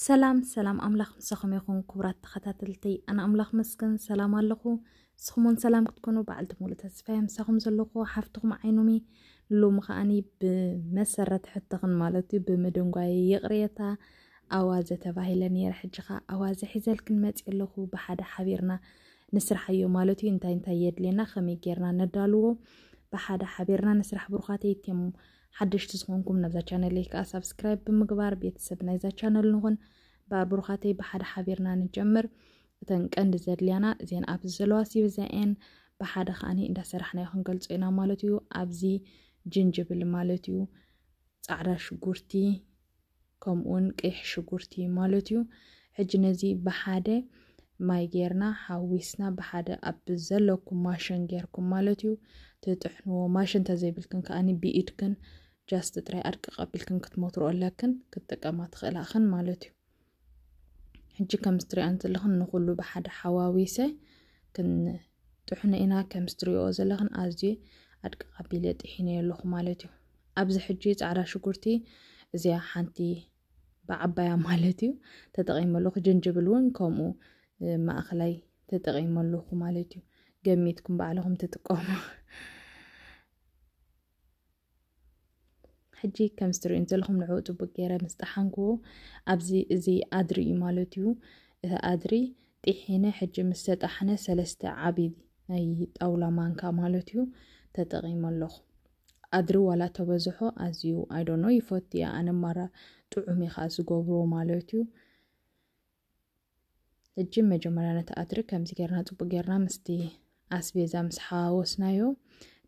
ሰላም ሰላም ኣምላኽ ምሳኹም ይኹን ክቡራት ተኸታተልተይ ኣነ ኣምላኽ መስገን ሰላም ኣለኹ ንስኹምውን ሰላም ክትኮኑ በዓልቲ ሙሉ ተስፋይ ምሳኹም ዘለኹ ሓፍትኹም ዓይኑሚ ሎሚ ከዓኒ ብመሰረት ሕትኽን ማለት እዩ ብምድንጓይ ይቕሬታ ኣዋዘ ተባሂለ ነይረ ሕጂ ከዓ ኣዋዘ ሒዘልክን መፅ ኣለኹ ብሓደ ሓቢርና ንስራሕዮ ማለት እዩ እንታይ እንታይ የድልየና ከመይ ጌርና ነዳልዎ ብሓደ ሓቢርና ንስራሕ ብሩኻት የትም ሓደሽቲ ዝኾንኩም ናብዛ ቻነለይ ከዓ ሳብስክራይብ ብምግባር ቤተሰብ ናይዛ ቻነል ንኹን እምበኣር ብሩኻተይ ብሓደ ሓቢርና ንጀምር እተን ቀንዲ ዘድልያና እዚን ኣብዚ ዘለዋ ሲብዘኤን ብሓደ ከዓኒ እንዳሰራሕናዮ ክንገልፆ ኢና ማለት እዩ ኣብዚ ጅንጅብል ማለት እዩ ፃዕዳ ሽጉርቲ ከምኡውን ቀይሕ ሽጉርቲ ማለት እዩ። ሕጂ ነዚ ብሓደ ማይ ጌርና ሓዊስና ብሓደ ኣብ ዘለኩም ማሽን ጌርኩም ማለት እዩ ትጥሕንዎ። ማሽን ተዘይብልክን ከኣ ብኢድክን ጃስት ጥራይ ኣድቂ ቀቢልክን ክትመትሮ ኣለክን ክትጥቀማ ትኽእላኽን ማለት እዩ ሕጂ ከም ዝትሪኣን ዘለኽን ንኹሉ ብሓደ ሓዋዊሰ ክን ጥሑነ ኢና ከምስ ትሪኦኦ ዘለኽን ኣዝየ ኣድቅቅ ኣቢለ ጢሒነዮ ኣለኹ ማለት እዩ ኣብዚ ሕጂ ጻዕዳ ሽጉርቲ እዚኣ ሓንቲ ብዓባያ ማለት እዩ ተጠቂመ ኣለኹ ጅንጅብል እውን ከምኡ ማእኸላይ ተጠቂመ ኣለኹ ማለት እዩ ገሚትኩም ባዕልኹም ትጥቀሙ ሕጂ ከምዚ ትርእዩኒ ዘለኹም ንዕኡ ጽቡቅ ገይረ ምስ ጠሓንክዎ ኣብዚ እዚ ኣድሪ እዩ ማለት እዩ እቲ ኣድሪ ጢሒነ ሕጂ ምስ ተጣሕነ ሰለስተ ዓቢ ናይ ጣውላ ማንካ ማለት እዩ ተጠቒመ ኣለኹ ኣድሪ ዋላ ተበዝሖ ኣዝዩ ኣይዶኖ ይፈቱ እያ ኣነ ማራ ጥዑም እዩ ዝገብሮ ማለት እዩ እጂ መጀመርያ ነቲ ኣድሪ ከምዚ ጌርና ጽቡቅ ጌርና ምስቲ ኣስቤዛ ምስ ሓዋወስናዮ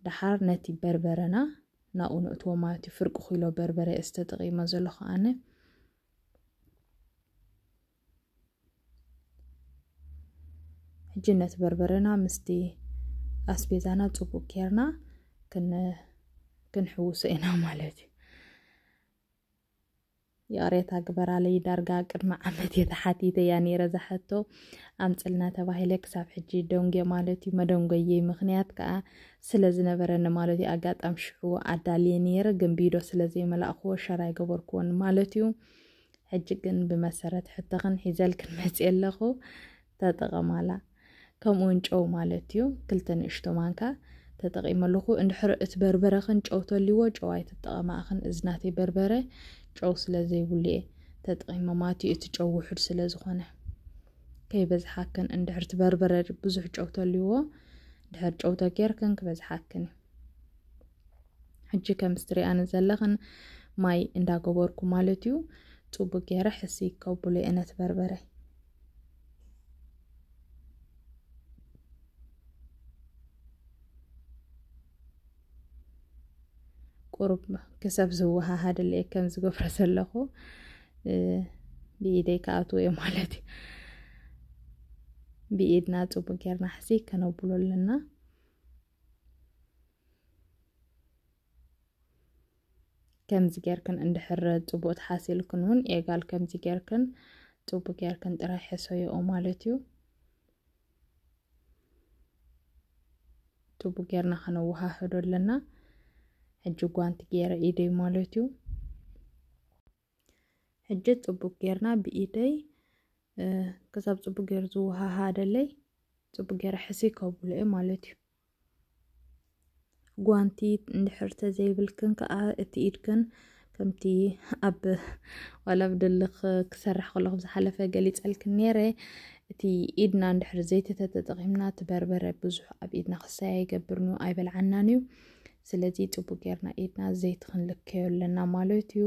ደሓር ነቲ በርበረና ናብኡ ነእትዎ ማለት እዩ ፍርቂ ኩሎ በርበረ እየ ዝተጠቂመ ዘለኹ ኣነ ሕጂ ነቲ በርበረና ምስቲ ኣስቤዛና ጽቡቅ ጌርና ክንሕውሶ ኢና ማለት እዩ ይቕሬታ ግበራለይ ዳርጋ ቅድሚ ዓመት እየ ተሓቲተያ ነይረ እዛ ሕቶ ኣምፅልና ተባሂለ ክሳብ ሕጂ ደንጎ ማለት እዩ መደንጎየይ ምክንያት ከዓ ስለ ዝነበረኒ ማለት እዩ ኣጋጣሚ ሽዑ ኣዳልየ ነይረ ግን ቢዶ ስለ ዘይመላእክዎ ሸር ኣይገበርክዎን ማለት እዩ ሕጂ ግን ብመሰረት ሕቶኽን ሒዘልክን መፅየ ኣለኹ ተጠቐማላ ከምኡ ውን ጨው ማለት እዩ ክልተ ንእሽቶ ማንካ ተጠቒመ ኣለኹ እንድሕር እቲ በርበረኽን ጨው ተልዎ ጨው ኣይትጠቐማእኽን እዚ ናተይ በርበረ ጨው ስለ ዘይብሉ እየ ተጠቒመ ማለት እዩ እቲ ጨው ውሑድ ስለ ዝኾነ ከይበዝሓክን እንድሕር እቲ በርበረ ብዙሕ ጨው ተልዎ ድሕር ጨው ተጌርክን ክበዝሓክን እዩ ሕጂ ከም ስትሪኣን ዘለኽን ማይ እንዳገበርኩ ማለት እዩ ፅቡቅ ገይረ ሕሲ ከቡለ እነት በርበረ ቁሩብ ክሰብ ዝወሃሃድለየ ከም ዝገብሮ ዘለኹ ብኢደይ ክኣትዎ እየ ማለት እዩ ብኢድና ፅቡቅ ጌርና ሕዚ ከነብሎ ኣለና ከምዚ ጌርክን እንድሕር ፅቡቅ ተሓሲልክን እውን ኤጋል ከምዚ ጌርክን ፅቡቅ ጌርክን ጥራይ ሕሰዮኦ ማለት እዩ። ፅቡቅ ጌርና ከነወሃህዶ ኣለና። ሕጂ ጓንቲ ጌረ ኢደይ ማለት እዩ። ሕጂ ፅቡቅ ጌርና ብኢደይ ክሳብ ፅቡቅ ጌሩ ዝወሃሃደለይ ፅቡቅ ጌረ ሕስይ ከብሎ እየ ማለት እዩ። ጓንቲ እንድሕር ተዘይብልክን ከዓ እቲ ኢድክን ከምቲ ኣብ ዋላ ኣብ ድልኽ ክሰርሕ ከለኹ ዝሓለፈ ገሊፀልክን ነይረ እቲ ኢድና እንድሕር ዘይቲ ተተጠቒምና እቲ በርበረ ብዙሕ ኣብ ኢድና ክሳይ ኣይገብርን እዩ ኣይበልዓናን እዩ ስለዚ ፅቡቅ ጌርና ኢድና ዘይቲ ክንልከዮ ኣለና ማለት እዩ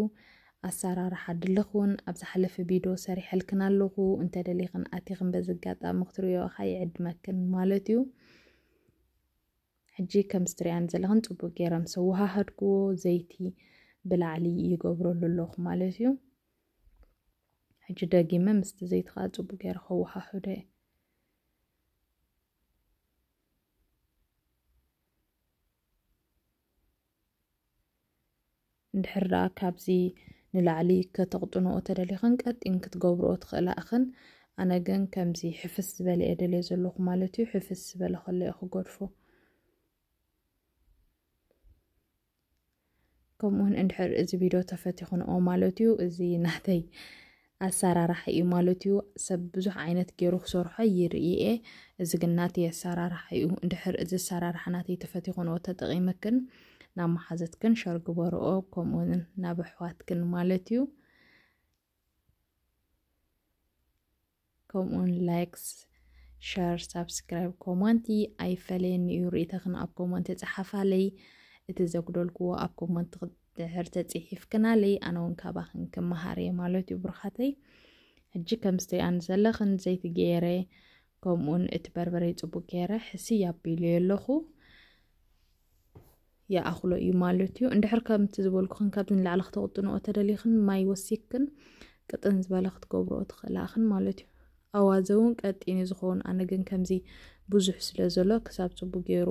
ኣሳራርሓ ድልኽ ውን ኣብ ዝሓለፈ ቢዶ ሰሪሐልክን ኣለኹ እንተ ደሊኽን ኣቲኽን በዚ ኣጋጣሚ ክትሪኦ እኻ ይዕድመክን ማለት ዩ ሕጂ ከምዚ ትሪኣኒ ዘለኽን ጽቡቅ ጌረ ምስ ኣወሃሃድክዎ ዘይቲ ብላዕሊ ይገብረሉ ኣለኹ ማለት ዩ ሕጂ ደጊመ ምስቲ ዘይቲ ከኣ ጽቡቅ ጌረ ከወሃህዶ እየ እንድሕር ደኣ ካብዚ ንላዕሊ ከተቕጥንኦ ተደሊኽን ቀጢን ክትገብርኦ ትኽእላ ኢኽን። ኣነ ግን ከምዚ ሕፍስ ዝበለ እየ ደልዮ ዘለኹ ማለት እዩ። ሕፍስ ዝበለ ከሎ እየ ክገድፎ። ከምኡውን እንድሕር እዚ ቪድዮ ተፈቲኽንኦ ማለት እዩ እዚ ናተይ ኣሳራራሓ እዩ ማለት እዩ ሰብ ብዙሕ ዓይነት ገይሩ ክሰርሖ ይርኢየ እዚ ግን ናተይ ኣሳራራሓ እዩ እንድሕር እዚ ኣሳራራሓ ናተይ ተፈቲኹንኦ ተጠቒመክን ናብ መሓዘትክን ሸር ግበርኦ ከምኡውን ናብ ኣሕዋትክን ማለት እዩ ከምኡውን ላይክስ ሸር ሳብስክራይብ ኮመንቲ ኣይፈለየኒ እዩ ርእተኽን ኣብ ኮመንቲ ፀሓፋለይ እቲ ዘጉደልክዎ ኣብ ኮመንቲ ድሕር ተፅሒፍክናለይ ኣነ እውን ካባኽን ክመሃር እየ ማለት እዩ ብሩኻተይ ሕጂ ከም ስትሪኣን ዘለኽን ዘይቲ ገይረ ከምኡውን እቲ በርበረ ፅቡቅ ገይረ ሕስይ ኣቢሉ ኣለኹ ይኣኽሎ እዩ ማለት እዩ እንድሕር ከምቲ ዝበልኩኽን ካብዚ ንላዕሊ ክተቕጥንኦ ተደሊኽን ማይ ወሲክን ቅጥን ዝበለ ክትገብርኦ ትኽእላኽን ማለት እዩ ኣዋዘ እውን ቀጢን እዩ ዝኸውን ኣነ ግን ከምዚ ብዙሕ ስለ ዘሎ ክሳብ ፅቡቅ ገይሩ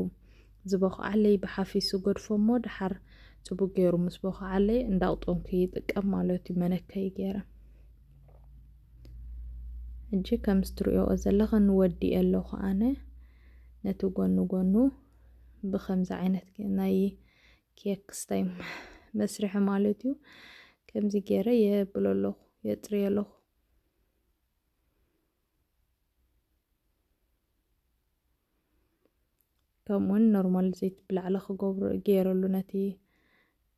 ዝበኽዓለይ ብሓፊሱ ገድፎ እሞ ድሓር ፅቡቅ ገይሩ ምስ በኽዓለይ እንዳቕጦንኩ ይጥቀም ማለት እዩ መነከይ ገይረ እጂ ከምዚ ትሪኦ ዘለኽን ወዲኤ ኣለኹ ኣነ ነቲ ጎኑ ጎኑ ብከምዚ ዓይነት ናይ ኬክ ስታይ መስርሒ ማለት እዩ ከምዚ ገይረ የብሎ ኣለኹ የፅርዮ ኣለኹ ከምኡውን ኖርማል ዘይት ብላዕሊ ክገብሮ ገይረሉ ነቲ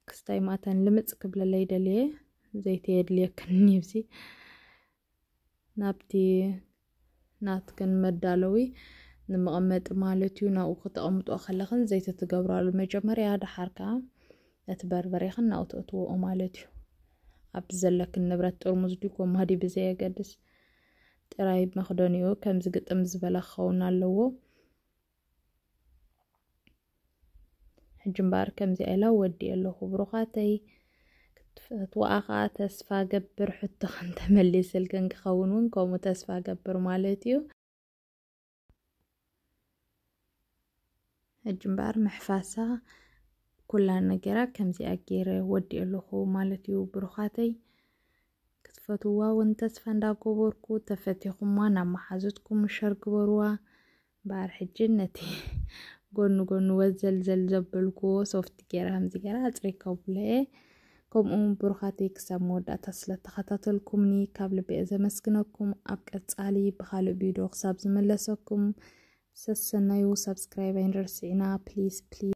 ክስታይ ማእተን ልምፅ ክብለለይ ደልየ ዘይተ የድልየክን ይብዚ ናብቲ ናትክን መዳለዊ ንመቐመጢ ማለት እዩ ናብኡ ክተቐምጦ ከለኽን ዘይቲ ትገብራሉ መጀመርያ ደሓር ከዓ ነቲ በርበሬኽን ናብኡ ተእትዎኦ ማለት እዩ ኣብቲ ዘለክን ንብረት ጥርሙዝ ድዩ ጎማ ድዩ ብዘየገድስ ጥራይ መኽደኒኡ ከምዚ ግጥም ዝበለ ክኸውን ኣለዎ ሕጂ እምበኣር ከምዚኣ ኢላ ወዲእ ኣለኹ ብሩኻተይ ክትፈትዋኣ ከዓ ተስፋ ገብር ሕቶኽን ተመሊስልክን ክኸውን እውን ከምኡ ተስፋ ገብር ማለት እዩ ሕጂ እምበኣር ምሕፋሳ ኩላ ነገራ ከምዚኣ ገይረ ወዲእ ኣለኹ ማለት እዩ ብሩኻተይ ክትፈትዋ እውን ተስፋ እንዳገበርኩ ተፈቲኹማ ናብ መሓዙትኩም ሸር ግበርዋ እምበኣር ሕጂ ነቲ ጎኑ ጎኑ ወዘልዘል ዘበልክዎ ሶፍት ገይረ ከምዚ ገይረ ኣጽሪከብለየ ከምኡ እውን ብሩኻተይ ክሳብ መወዳእታ ስለተኸታተልኩምኒ ካብ ልቢ እየ ዘመስግነኩም ኣብ ቀጻሊ ብካልእ ቪድዮ ክሳብ ዝመለሰኩም ሰሰናዩ ሳብስክራይብ ኣይንርስዕና ፕሊስ ፕሊስ